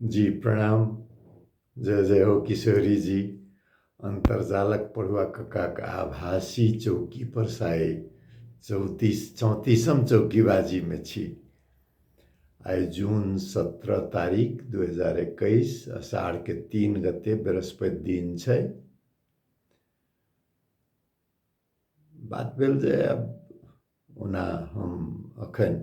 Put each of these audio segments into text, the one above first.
जी प्रणाम जय जय हो किशोरी जी अन्तर्जालक पढ़ुआ कक्काक आभासी चौकी पर साय चौतीस चौंतीसम चौकीबाजीमे छी आइ जून सत्रह तारीख दू हजार एकैस अषाढ़के तीन गते बृहस्पति दिन छै बात भेल जे आब ओना हम अखन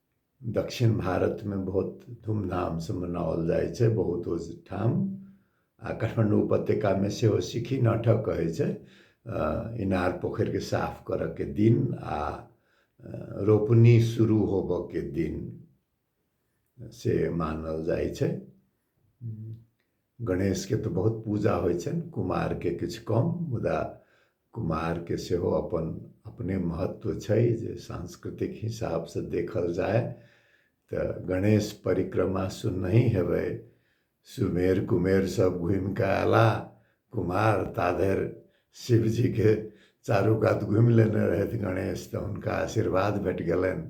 दक्षिण भारतमे बहुत धूमधामसँ मनाओल जाइ छै बहुत ओहिठाम आ काठमाण्डू उपत्यकामे सेहो सिक्खी नाटक कहै छै इनार पोखरिके साफ करऽके दिन आ रोपनी शुरू होबऽके दिन से मानल जाइ छै गणेशके तऽ बहुत पूजा होइ छनि कुमारके किछु कम मुदा कुमारके सेहो अपन अपने महत्व छै जे सांस्कृतिक हिसाबसँ देखल जाय तऽ गणेश परिक्रमा सुननहि हेबै सुमेर कुमेर सब घुमि कऽ अयला कुमार ता धरि शिवजीके चारू कात घुमि लेने रहथि गणेश तऽ हुनका आशीर्वाद भेट गेलनि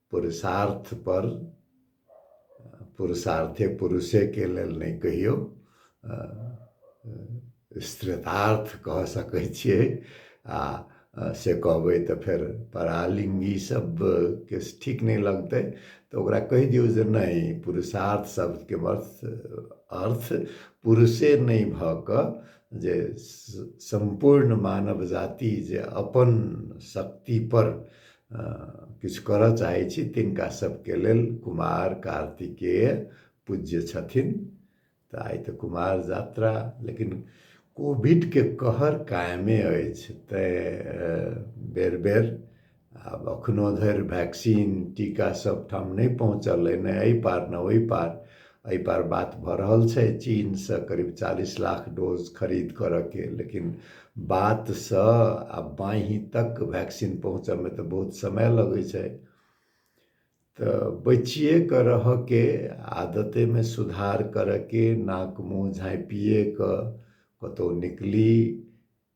पुरुषार्थ पर पुरुषार्थे पुरुषे के लेल नहि कहियो स्त्रीतार्थ कह सकै छियै आ से कहबै तऽ फेर परालिङ्गी शब्दके ठीक नहि लगतै तऽ ओकरा कहि दियौ जे नहि पुरुषार्थ शब्दके अर्थ पुरुषे नहि भऽ कऽ जे सम्पूर्ण मानव जाति जे अपन शक्तिपर किछु करऽ चाहै छी तिनका सबके लेल कुमार कार्तिकेय पूज्य छथिन तऽ आइ तऽ कुमार यात्रा लेकिन कोविडके कहर कायमे अछि तैँ बेर बेर आब एखनो धरि वैक्सीन टीका सब ठाम नहि पहुँचल अइ ने एहि पार ने ओहि पार एहिपर बात भऽ रहल छै चीनसँ करीब चालीस लाख डोज खरीद करयके लेकिन बातसँ आ बाँहि तक वैक्सीन पहुँचयमे तऽ बहुत समय लगै छै तऽ बचिए कऽ रहयके आदतेमे सुधार करयके नाक मुँह झाँपिए कऽ कतहु निकली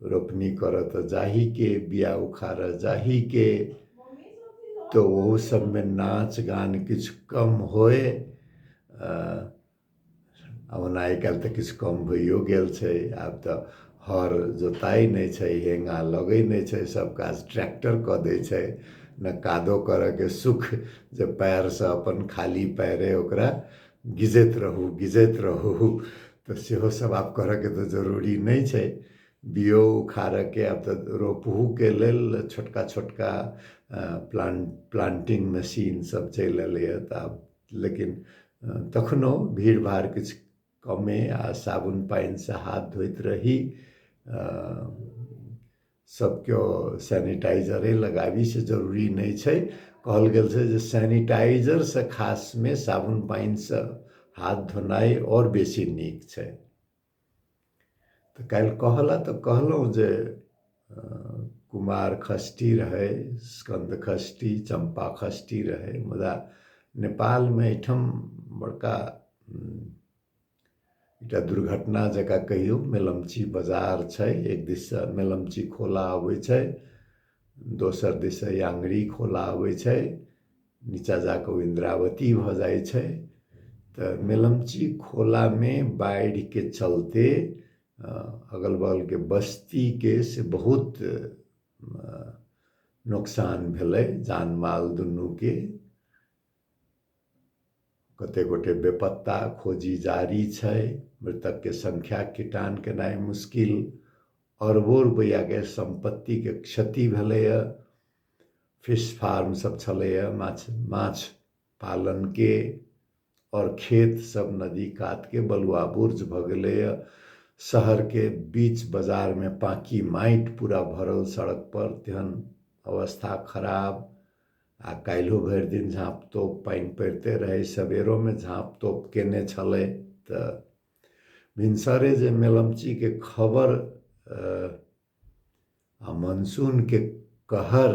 रोपनी करऽ तऽ जाहीके बिआ उखाड़ऽ जाहीके तऽ ओहो सभमे नाच गान किछु कम होय ओना आइ काल्हि तऽ किछु कम होइयो गेल छै आब तऽ हर जोताइ नहि छै हेङ्गा लगै नहि छै सभ काज ट्रैक्टर कऽ दै छै ने कादो करऽके सुख जे पएरसँ अपन खाली पएरे ओकरा गिजैत रहू गिजैत रहू तऽ सेहो सब आब करऽके तऽ जरूरी नहि छै बीओ उखाड़ऽके आब तऽ रोपहुके लेल छोटका छोटका प्लान प्लान्टिंग मशीन सब चलि अयलैया तऽ आब लेकिन तखनो भीड़ भाड़ किछु कमे आ साबुन पानिसँ हाथ धोइत रही सब केओ सैनिटाइजरे लगाबी से जरूरी नहि छै कहल गेल छै जे सैनिटाइजरसँ खासमे साबुन पानिसँ हाथ धोनाइ आओर बेसी नीक छै तऽ काल्हि कहला तऽ कहलहुँ जे कुमार खष्टी रहै स्कन्द खष्टी चम्पा खष्टी रहै मुदा नेपालमे एहिठाम बड़का एकटा दुर्घटना जकाँ कहियौ मेलमची बजार छै एक दिससँ मेलमची खोला अबै छै दोसर दिससँ याङ्गरी खोला अबै छै नीचाँ जा कऽ ओ इन्द्रावती भऽ जाइ छै तऽ मेलमची खोलामे बाढ़िके चलते अगल बगलके बस्तीके से बहुत नोकसान भेलै जान माल दुनूके कते गोटे बेपत्ता खोजी जारी छै मृतक के संख्या किटान केनाइ मुश्किल अरबो रुपैआ के संपत्ति के क्षति भेलैए फिश फार्म सब छलैए माछ माछ पालन के और खेत सब नदी कात के बलुआ बुर्ज भऽ गेलैए शहर के बीच बाजार में पाकी माटि पूरा भरल सड़क पर तेहन अवस्था खराब आ काल्हिओ भरि दिन झाँप तोप पानि पड़िते रहै सबेरोमे झाँप तोप केने छलै तऽ भिनसरे जे मेलमचीके खबर आ मनसूनके कहर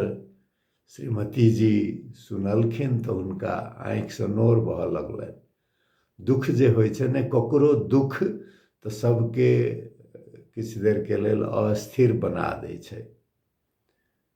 श्रीमती जी सुनलखिन तऽ हुनका आँखिसँ नोर बहऽ लगलनि दुःख जे होइ छै ने ककरो दुःख तऽ सभके किछु देरके लेल अस्थिर बना दै छै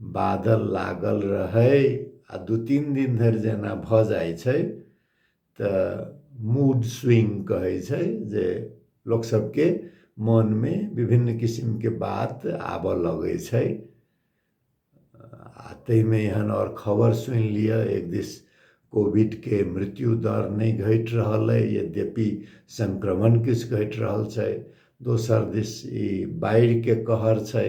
बादल लागल रहै आ दू तीन दिन धरि जेना भऽ जाइ छै तऽ मूड स्विंग कहै छै जे लोक सबके मन मे विभिन्न किसिम के बात आबऽ लगै छै आ ताहिमे एहन आओर खबर सुनि लिअ एक दिस कोविड के मृत्यु दर नहि घटि रहल अइ यद्यपि संक्रमण किछु घटि रहल छै दोसर दिस ई बाढ़ि के कहर छै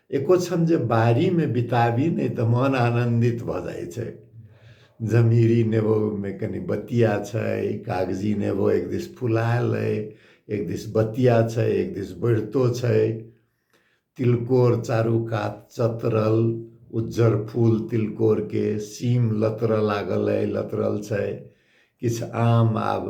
एको क्षण जे बाड़ीमे बिताबी नहि तऽ मन आनन्दित भऽ जाइ छै जमीरी नेबोमे कनि बतिया छै कागजी नेबो एक दिस फुलायल अइ एक दिस बतिया छै एक दिस बढ़ितो छै तिलकोर चारू कात चतरल उज्जर फूल तिलकोरके सीम लतरऽ लागल अइ लतरल छै किछु आम आब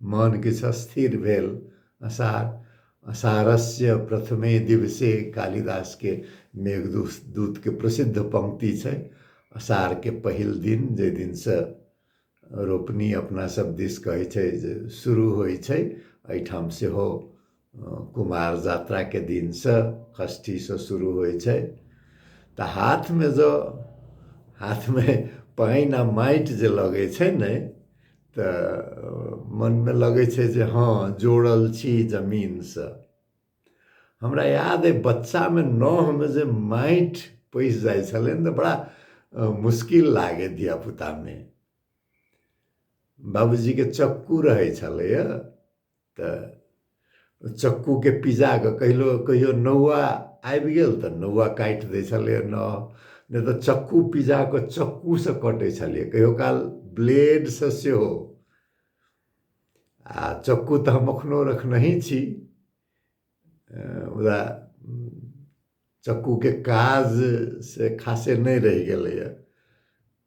मन किछु अस्थिर भेल। असार। असारस्य प्रथमे दिवसे कालिदास के मेघदूत के प्रसिद्ध पंक्ति छै। असार के पहिल दिन जै दिन से रोपनी अपना सब दिस कहै छै जे शुरू होइ छै एहिठाम सेहो कुमार जात्राके दिनसँ षष्ठीसँ शुरू होइ छै तऽ हाथमे जँ हाथमे पानि आओर माटि जे लगै छै ने तऽ मनमे लगै छै जे हँ जोड़ल छी जमीनसँ हमरा याद अइ बच्चामे नहमे जे माटि पैसि जाइ छलै ने तऽ बड़ा मुश्किल लागै धियापुतामे बाबूजीके चक्कू रहै छलैए तऽ चक्कूके पिजा कऽ कहिलो कहियो नौआ आबि गेल तऽ नौआ काटि दै छलै नौ नहि तऽ चक्कू पिजा कऽ चक्कूसँ कटै छलै कहियो काल ब्लेडसँ सेहो आ चक्कू तऽ हम एखनो रखनहि छी मुदा चक्कूके काज से खासे नहि रहि गेलैए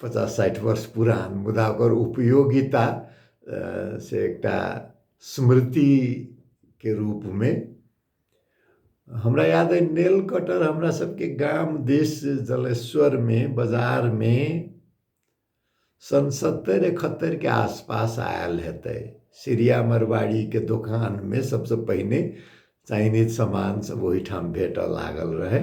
पचास साठि वर्ष पुरान मुदा ओकर उपयोगिता से एकटा स्मृतिके रूपमे हमरा याद अइ नेल कटर हमरा सबके गाम देश जलेश्वरमे बजारमे सन सत्तरि एकहत्तरिके आसपास आयल हेतै सिरिया मरवाड़ीके दोकानमे सबसँ पहिने चाइनीज सामान सब ओहिठाम भेटऽ लागल रहै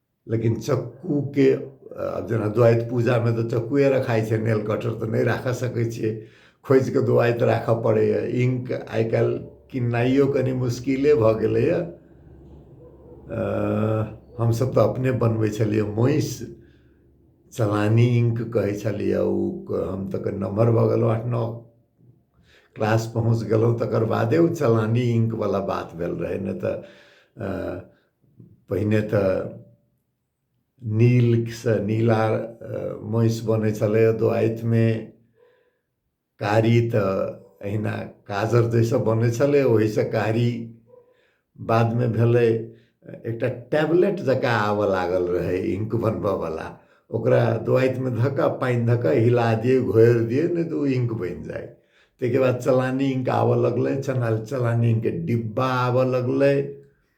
लेकिन चक्कूके जेना द्वैत पूजामे तऽ चक्कूए रखाइ छै नेल कटर तऽ नहि राखऽ सकै छियै खोजिकऽ द्वैत राखऽ पड़ैए इंक आइ काल्हि किननाइयो कनि मुश्किले भऽ गेलैए हमसभ तऽ अपने बनबै छलियै महींस चलानी इंक कहै छलियै ओ हम तऽ कनि नमहर भऽ गेलहुँ आठ नओ क्लास पहुँच गेलहुँ तकर बादे ओ चलानी इंकवला बात भेल रहै नहि तऽ पहिने तऽ नीलसँ नीला महिष बनै छलै दुआतिमे कारी तऽ अहिना काजर जैसँ बनै छलै ओहिसँ कारी बादमे भेलै एकटा टैबलेट जकाँ आबऽ लागल रहै इंक बनबऽवला ओकरा दुआतिमे धऽ कऽ पानि धऽ कऽ हिला दियै घोरि दियै नहि तऽ ओ इंक बनि जाइ ताहिके बाद चलानी इंक आबऽ लगलै चलानी इंकके डिब्बा आबऽ लगलै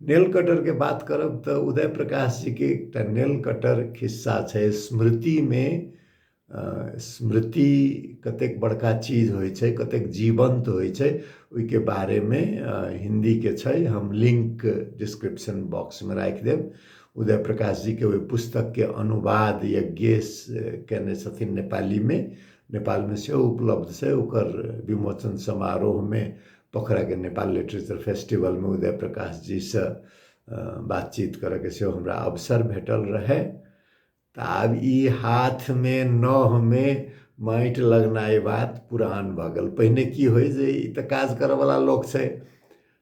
नेल कटरके बात करब तऽ उदय प्रकाश जीके एकटा नेल कटर खिस्सा छै स्मृतिमे स्मृति कतेक बड़का चीज होइ छै कतेक जीवन्त होइ छै ओहिके बारेमे हिन्दीके छै हम लिंक डिस्क्रिप्शन बॉक्समे राखि देब उदय प्रकाश जीके ओहि पुस्तकके अनुवाद यज्ञेश केने छथिन नेपालीमे नेपालमे सेहो उपलब्ध छै ओकर विमोचन समारोहमे पोखराके नेपाल लिटरेचर फेस्टिवलमे उदय प्रकाशजीसँ बातचीत करैके सेहो हमरा अवसर भेटल रहै तऽ आब ई हाथमे नहमे माटि लगनाइ बात पुरान भऽ गेल पहिने की होइ जे ई तऽ काज करऽवला लोक छै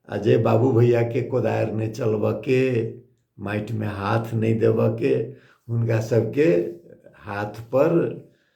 आ जे बाबू भैयाके कोदारि नहि चलबऽके माटिमे हाथ नहि देबऽके हुनका सबके हाथपर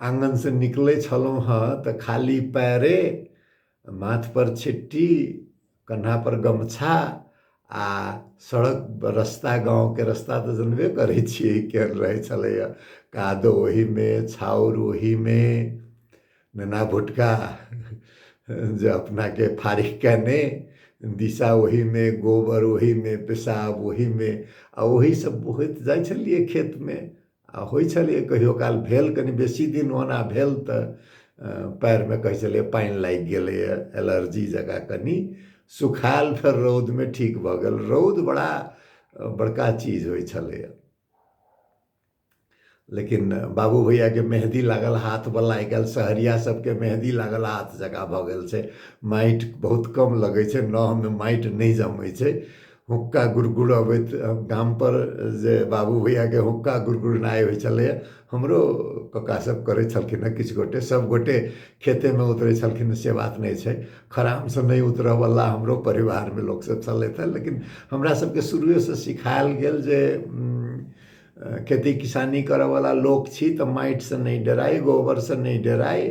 आँगनसँ निकलै छलहुँ हँ तऽ खाली पैरे माथपर छिट्टी कन्हापर गमछा आ सड़क रस्ता गाँवके रस्ता तऽ जनबे करै छियै केहन रहै छलैए कादो ओहीमे छाउर ओहीमे नेना भुटका जे अपनाके फाड़ि कयने दिशा ओहीमे गोबर ओहीमे पेशाब ओहीमे आ ओहीसँ बहैत जाइ छलियै खेतमे आ होइ छलैए कहियो काल भेल कनि बेसी दिन ओना भेल तऽ पएरमे कहै छलैए पानि लागि गेलैए एलर्जी जकाँ कनि सुखायल फेर रौदमे ठीक भऽ गेल रौद बड़ा बड़का चीज होइ छलैए लेकिन बाबू भैयाके मेहदी लागल हाथवला आइ काल्हि सहरिया सभके मेहदी लागल हाथ जकाँ भऽ गेल छै माटि बहुत कम लगै छै नहमे माटि नहि जमै छै हुक्का गुरगुर अबैत गामपर जे बाबू भैयाके हुक्का गुरगुरनाइ होइ छलैए हमरो ककासभ करै छलखिन हेँ किछु गोटे सभगोटे खेतेमे उतरै छलखिन से बात नहि छै खड़ामसँ नहि उतरयवला हमरो परिवारमे लोकसभ छलथि हेँ लेकिन हमरासभके शुरुएसँ सिखायल गेल जे खेती किसानी करयवला लोक छी तऽ माटिसँ नहि डराइ गोबरसँ नहि डराइ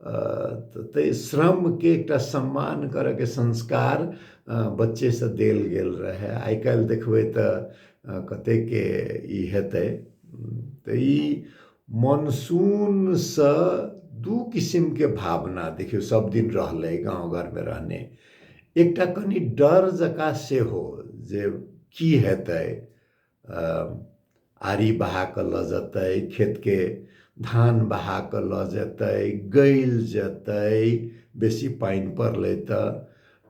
ताहि श्रमके एकटा सम्मान करऽके संस्कार बच्चेसँ देल गेल रहै आइ काल्हि देखबै तऽ कतेकके ई हेतै तऽ ई मनसूनसँ दू किसिमके भावना देखियौ सब दिन रहलै गाँव घरमे रहने एकटा कनि डर जकाँ सेहो जे की हेतै आरी बहा कऽ लऽ जेतै खेतके धान बहा कऽ लऽ जेतै गैल जेतै बेसी पानि पड़लै तऽ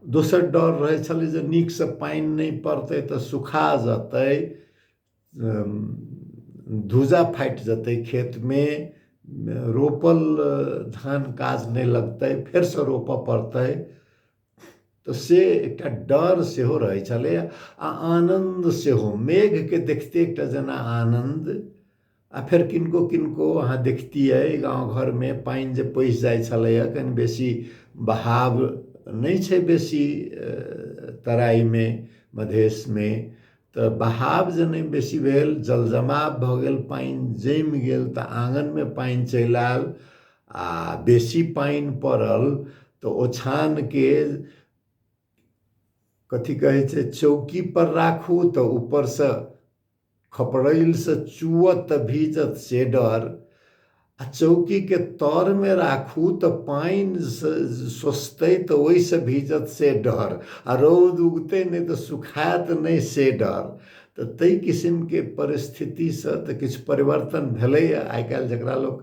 दोसर डर रहै छलै जे नीकसँ पानि नहि पड़तै तऽ सुखा जेतै धूजा फाटि जेतै खेतमे रोपल धान काज नहि लगतै फेरसँ रोपय पड़तै तऽ से एकटा डर सेहो रहै छलै आ आनन्द सेहो मेघके देखते एकटा जेना आनन्द आ फेर किनको किनको अहाँ देखतियै गाँव घरमे पानि जे पैसि जाइ छलैए कनि बेसी बहाव नहि छै बेसी तराइमे मधेशमे तऽ बहाव जे नहि बेसी भेल जल जमाव भऽ गेल पानि जमि गेल तऽ आङ्गनमे पानि चलि आयल आ बेसी पानि पड़ल तऽ ओछानके कथी कहै छै चौकीपर राखू तऽ ऊपरसँ खपड़ैलसँ चुअत तऽ भीजत से डर आ चौकीके तरमे राखू तऽ पानि सोसतै तऽ ओहिसँ भीजत से डर आ रौद उगतै नहि तऽ सुखायत नहि से डर तऽ ताहि किसिमके परिस्थितिसँ तऽ किछु परिवर्तन भेलैए आइ काल्हि जकरा लोक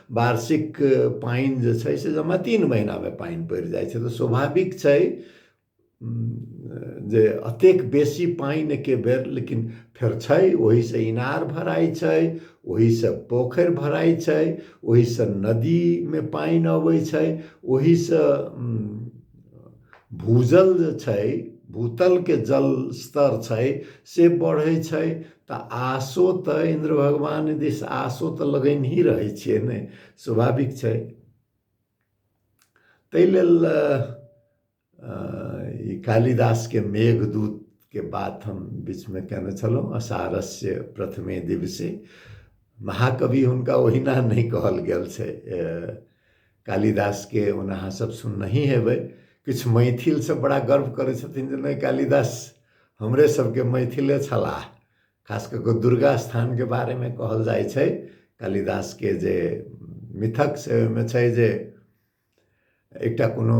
वार्षिक पानि जे छै से जमा तीन महीनामे पानि पड़ि जाइ छै तऽ स्वाभाविक छै जे अतेक बेसी पानि एके बेर लेकिन फेर छै ओहिसँ इनार भराइ छै ओहिसँ पोखरि भराइ छै ओहिसँ नदीमे पानि अबै छै ओहिसँ भूजल जे छै भूतलके जल स्तर छै से बढ़ै छै तऽ आशो तऽ इन्द्र भगवान दिस आशो तऽ लगैन ही रहै छियै ने स्वाभाविक छै ताहि लेल ई कालिदासके मेघदूतके बात हम बीचमे कयने छलहुँ असारस्य प्रथमे दिवसे महाकवि हुनका ओहिना नहि कहल गेल छै कालिदासके ओना अहाँसभ सुननहि हेबै किछु मैथिलसभ बड़ा गर्व करै छथिन जे नहि कालिदास हमरे सभके मैथिले छलाह खास कऽ कऽ दुर्गा स्थानके बारेमे कहल जाइ छै कालिदासके जे मिथक से ओहिमे छै जे एकटा कोनो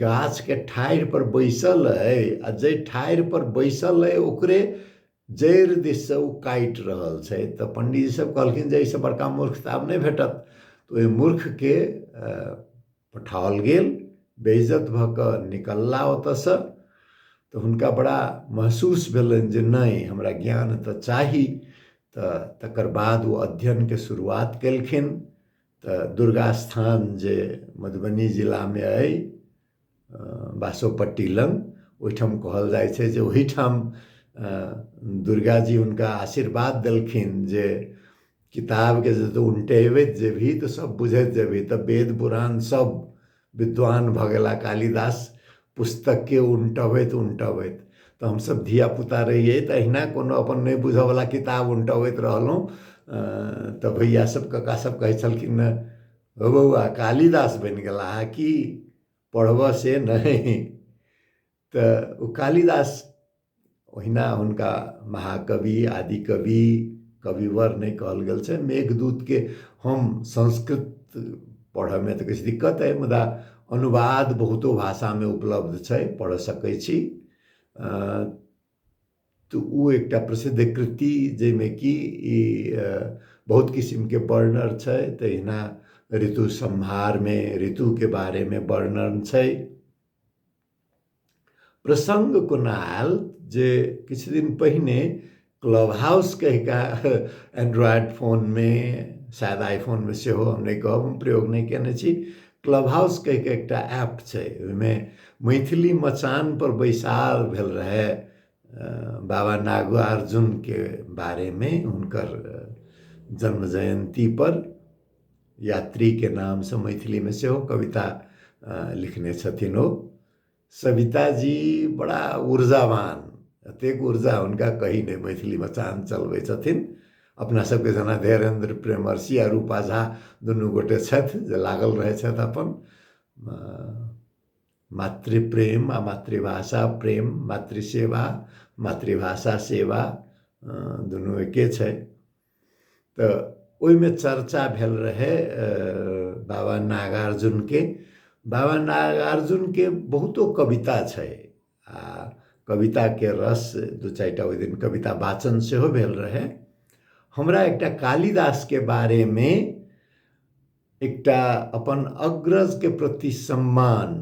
गाछके ठाढ़िपर बैसल अइ आ जाहि ठाढ़िपर बैसल अइ ओकरे जड़ि दिससँ ओ काटि रहल छै तऽ पंडीजी सब कहलखिन जे एहिसँ बड़का मूर्ख तऽ आब नहि भेटत तऽ ओहि मूर्खके पठाओल गेल बेइज्जत भऽ कऽ निकलला ओतऽसँ तऽ हुनका बड़ा महसूस भेलनि जे नहि हमरा ज्ञान तऽ चाही तऽ तकर बाद ओ अध्ययनके शुरुआत केलखिन तऽ दुर्गा स्थान जे मधुबनी जिलामे अइ बासोपट्टी लग ओहिठाम कहल जाइ छै जे ओहिठाम दुर्गा जी हुनका आशीर्वाद देलखिन जे किताबके जतऽ उलटेबैत जेबही तऽ सब बुझैत जेबही तऽ वेद पुराण सब विद्वान भऽ गेला कालिदास पुस्तकके उनटबैत उनटबैत तऽ हमसभ धियापुता रहियै तऽ अहिना कोनो अपन नहि बुझयवला किताब उनटबैत रहलहुँ तऽ भैयासभ कक्कासभ कहै छलखिन हेँ हौ बौआ कालिदास बनि गेलाह की पढ़बह से नहि तऽ ओ कालिदास ओहिना हुनका महाकवि आदि कवि कविवर नहि कहल गेल छै मेघदूतके हम संस्कृत पढ़ऽमे तऽ किछु दिक्कत अइ मुदा अनुवाद बहुतो भाषामे उपलब्ध छै पढ़ऽ सकै छी तऽ ओ एकटा प्रसिद्ध कृति जाहिमे कि ई बहुत किसिमके वर्णन छै तहिना ऋतु सम्हारमे ऋतुके बारेमे वर्णन छै प्रसङ्ग कोना आयल जे किछु दिन पहिने क्लब हाउस कहिका एंड्रॉयड फोनमे शायद आईफोनमे सेहो हम नहि कहब हम प्रयोग नहि कयने छी क्लब हाउस कहिके एकटा ऐप छै ओहिमे मैथिली मचानपर बैसार भेल रहए बाबा नागार्जुनके बारेमे हुनकर जन्म जयन्तीपर यात्रीके नामसँ मैथिलीमे सेहो कविता लिखने छथिन ओ सविता जी बड़ा ऊर्जावान एतेक ऊर्जा हुनका कही नहि मैथिलीमे चान चलबै छथिन अपना सबके जेना धीरेन्द्र प्रेमर्षि आ रूपा झा दुनू गोटे छथि जे लागल रहै छथि अपन मातृप्रेम आ मातृभाषा प्रेम मातृसेवा मातृभाषा सेवा दुनू एके छै तऽ ओहिमे चर्चा भेल रहै बाबा नागार्जुनके बाबा नागार्जुनके बहुतो कविता छै आ कविताके रस दू चारि टा ओहि दिन कविता वाचन सेहो भेल रहै हमरा एकटा कालिदासके बारेमे एकटा अपन अग्रजके प्रति सम्मान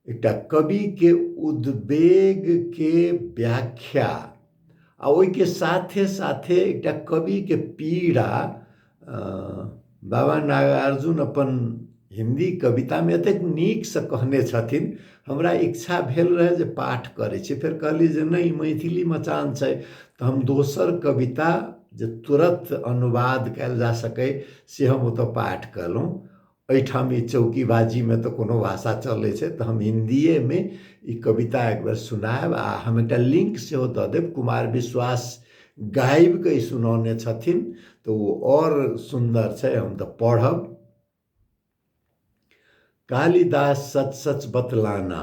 एकटा कवि के उद्वेग के व्याख्या आ ओहि के साथे साथे एकटा कवि के पीड़ा बाबा नागार्जुन अपन हिंदी कविता में एतेक नीक से कहने छथिन हमरा इच्छा भेल रहे जे पाठ करे छी फिर कहली जे नहीं मैथिली मचान छै तो हम दोसर कविता जे तुरंत अनुवाद कल जा सके से हम ओतऽ पाठ कलहुँ एहिठाम ई चौकीबाजीमे तऽ कोनो भाषा चलै छै तऽ हम हिन्दिएमे ई कविता एक बेर सुनाएब आ हम एकटा लिंक सेहो दऽ देब कुमार विश्वास गाबिके ई सुनौने छथिन तऽ ओ आओर सुन्दर छै हम तऽ पढ़ब कालिदास सच सच बतलाना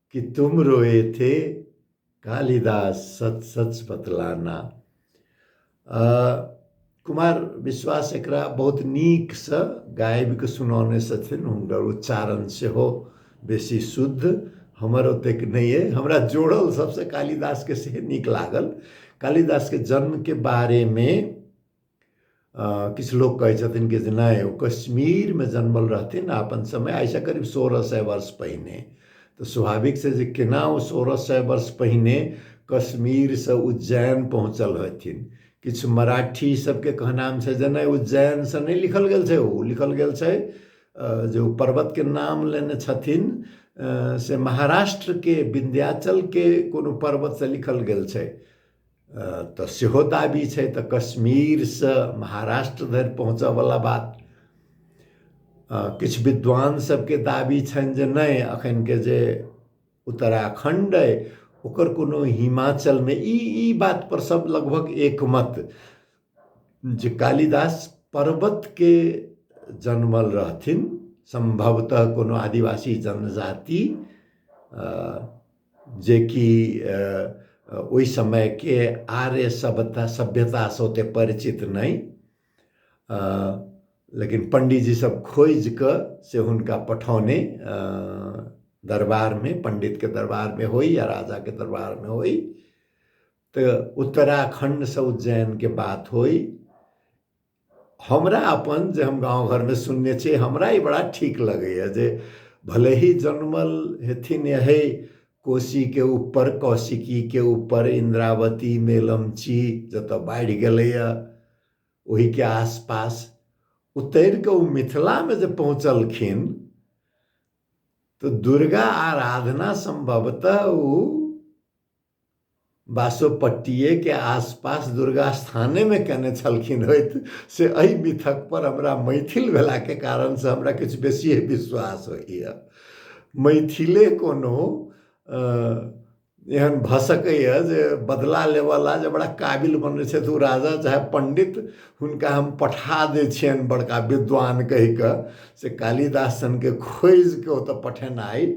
कि तुम रोए थे कालिदास सच सच बतलाना कुमार विश्वास एक बहुत नीक से गाबि के सुनौने छथिन हुनकर उच्चारण से हो बेसी शुद्ध हमर ओतेक नहीं है हमरा जोड़ल सबसे कालिदास के से नीक लागल कालिदास के जन्म के बारे में किछु लोक कहै छथिन कि जे नहि ओ कश्मीरमे जनमल रहथिन आ अपन समय आइसँ करीब सोरह सए वर्ष पहिने तऽ स्वाभाविक छै जे केना ओ सोरह सए वर्ष पहिने कश्मीरसँ उज्जैन पहुँचल हेथिन किछु मराठी सभके कहनाम छै जे नहि उज्जैनसँ नहि लिखल गेल छै ओ लिखल गेल छै जे ओ पर्वतके नाम लेने छथिन से महाराष्ट्रके विन्ध्याचलके कोनो पर्वतसँ लिखल गेल छै तऽ सेहो दाबी छै तऽ कश्मीरसँ महाराष्ट्र धरि पहुँचयवला बात किछु विद्वान सभके दाबी छनि जे नहि एखनके जे उत्तराखण्ड अइ ओकर कोनो हिमाचल नहि ई ई बातपर सभ लगभग एकमत जे कालिदास पर्वतके जन्मल रहथिन सम्भवतः कोनो आदिवासी जनजाति जेकि ओहि समयके आर्य सभ्यता सभ्यतासँ ओतेक परिचित नहि लेकिन पंडीजीसभ खोजि कऽ से हुनका पठौने दरबारमे पंडितके दरबारमे होइ या राजाके दरबारमे होइ तऽ उत्तराखंडसँ उज्जैनके बात होइ हमरा अपन जे हम गाँव घरमे सुनने छी हमरा ई बड़ा ठीक लगैए जे भले ही जनमल हेथिन एहि कोशीके ऊपर कौशिकीके ऊपर इन्द्रावती मेलमची जतऽ बाढ़ि गेलैए ओहिके आसपास उतरि कऽ ओ मिथिलामे जे पहुँचलखिन तऽ दुर्गा आराधना सम्भवतः ओ बासोपट्टिये के आसपास दुर्गा स्थाने मे केने छलखिन होइत से एहि मिथक पर हमरा मैथिल भेला के कारण से हमरा किछु बेसिये विश्वास होइए मैथिले कोनो एहन भऽ सकैए जे बदला लेबऽला जे बड़ा काबिल बनै छथि ओ राजा चाहे पण्डित हुनका हम पठा दै छियनि बड़का विद्वान कहि कऽ से कालिदास सनके खोजि कऽ ओतऽ पठेनाइ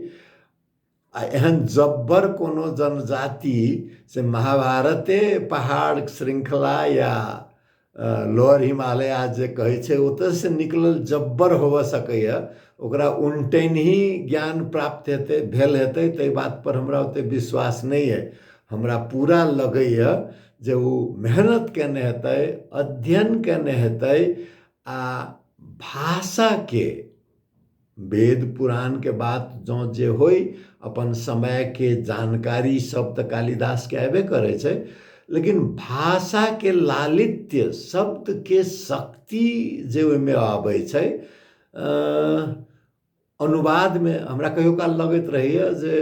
आ एहन जब्बर कोनो जनजाति से महाभारते पहाड़ श्रृंखला या लोअर हिमालय आज जे कहै छै ओतयसँ निकलल जब्बर होबऽ सकैए ओकरा उनटैनही ज्ञान प्राप्त हेतै भेल हेतै ताहि बातपर हमरा ओतेक विश्वास नहि अइ हमरा पूरा लगैए जे ओ मेहनत कयने हेतै अध्ययन कयने हेतै आ भाषाके वेद पुराणके बात जँ जे होइ अपन समयके जानकारी सब तऽ कालिदासके अयबे करै छै लेकिन भाषाके लालित्य शब्दके शक्ति जे ओहिमे आबै छै अनुवादमे हमरा कहियो काल लगैत रहैए जे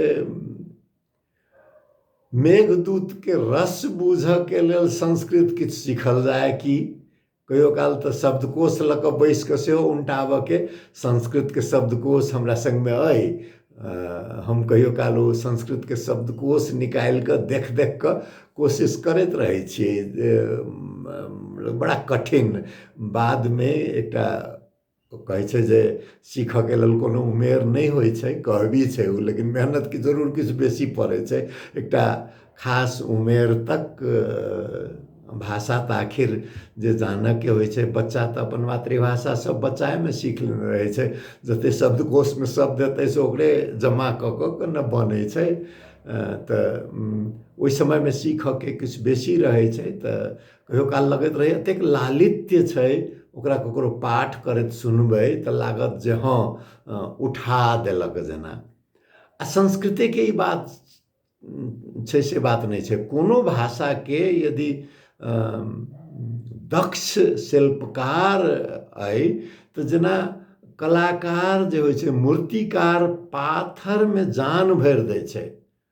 मेघदूतके रस बूझयके लेल संस्कृत किछु सीखल जाय कि कहियो काल तऽ शब्दकोश लऽ कऽ बैसि कऽ सेहो उनटाबऽके संस्कृतके शब्दकोश हमरा सङ्गमे अइ हम कहियो काल ओ संस्कृतके शब्दकोश निकालि कऽ देख देख कऽ कोशिश करैत रहै छियै जे बड़ा कठिन बादमे एकटा कहै छै जे सीखऽके लेल कोनो उमेर नहि होइ छै कहबी छै ओ लेकिन मेहनतिके जरूर किछु बेसी पड़ै छै एकटा खास उमेर तक भाषा तऽ आखिर जे जानऽके होइ छै बच्चा तऽ अपन मातृभाषा सब बच्चा एहिमे सीख लेने रहै छै जतेक शब्दकोशमे शब्द हेतै से ओकरे जमा कऽ कऽ कऽ ने बनै छै तऽ ओहि समयमे सीखऽके किछु बेसी रहै छै तऽ कहियो काल लगैत रहैए एतेक लालित्य छै ओकरा ककरो पाठ करैत सुनबै तऽ लागत जे हँ उठा देलक जेना आ संस्कृतेके ई बात छै से बात नहि छै कोनो भाषाके यदि दक्ष शिल्पकार अइ तऽ जेना कलाकार जे होइ छै मूर्तिकार पाथरमे जान भरि दै छै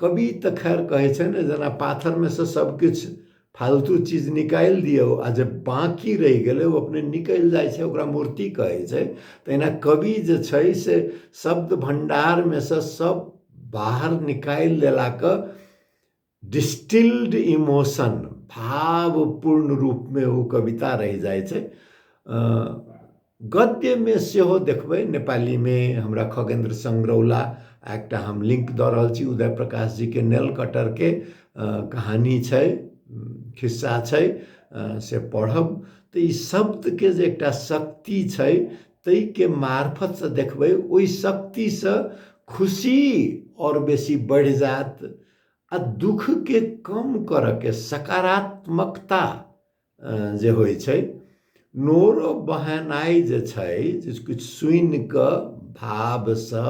कवि तऽ खैर कहै छै ने जेना पाथरमे सँ सभकिछु फालतू चीज निकालि दियौ आ जे बाँकी रहि गेलै ओ अपने निकलि जाइ छै ओकरा मूर्ति कहै छै तहिना कवि जे छै से शब्द भण्डारमे सँ सभ बाहर निकालि लेलाके डिस्टिल्ड इमोशन भावपूर्ण रूपमे ओ कविता रहि जाइ छै गद्यमे सेहो देखबै नेपालीमे हमरा खगेन्द्र संग्रौला आ एकटा हम लिंक दऽ रहल छी उदय प्रकाश जीके नेल कटरके कहानी छै खिस्सा छै से पढ़ब तऽ ई शब्दके जे एकटा शक्ति छै ताहिके मार्फतसँ देखबै ओहि शक्तिसँ खुशी आओर बेसी बढ़ि जायत आ दुःखके कम करयके सकारात्मकता जे होइ छै नोरो बहेनाइ जे छै जे किछु सुनि कऽ भावसँ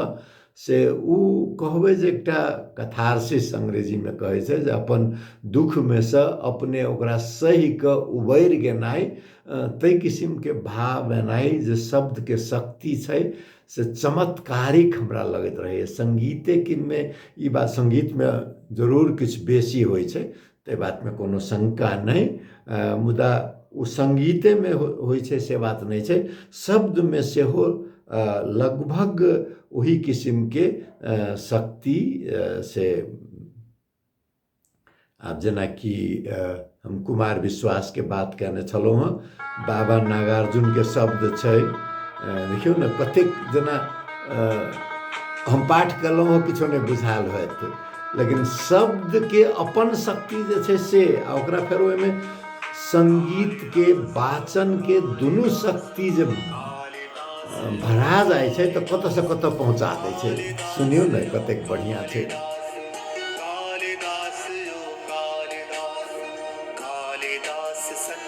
से ओ कहबै जे एकटा कथारसिस अंग्रेजीमे कहै छै जे अपन दुःखमे सँ अपने ओकरा सहि कऽ उबरि गेनाइ ताहि किसिमके भाव एनाइ जे शब्दके शक्ति छै से चमत्कारिक हमरा लगैत रहैए सङ्गीतेमे ई बात सङ्गीतमे जरूर किछु बेसी होइ छै ताहि बातमे कोनो शंका नहि मुदा ओ सङ्गीतेमे होइ छै से बात नहि छै शब्दमे सेहो लगभग ओही किसिमके शक्ति से आब जेनाकि हम कुमार विश्वासके बात कयने छलहुँ हेँ बाबा नागार्जुनके शब्द छै देखियौ ने कतेक जेना हम पाठ केलहुँ हँ किछो नहि बुझायल होत लेकिन शब्दके अपन शक्ति जे छै से आ ओकरा फेर ओहिमे सङ्गीतके वाचनके दुनू शक्ति जे भरा जाइ छै तऽ कतऽसँ कतऽ पहुँचा दै छै सुनियौ ने कतेक बढ़िआँ छै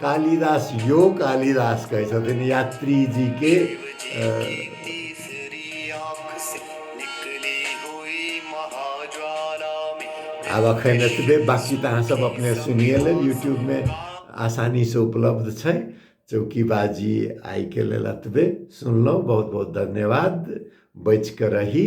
कालिदास यो कालिदास कहै छथिन यात्रीजीके आब अखन एतबे बाकी तऽ अहाँसभ अपने सुनिए लेब यूट्यूबमे आसानीसँ उपलब्ध छै चौकीबाजी आइके लेल एतबे सुनलहुँ बहुत बहुत धन्यवाद बचि कऽ रही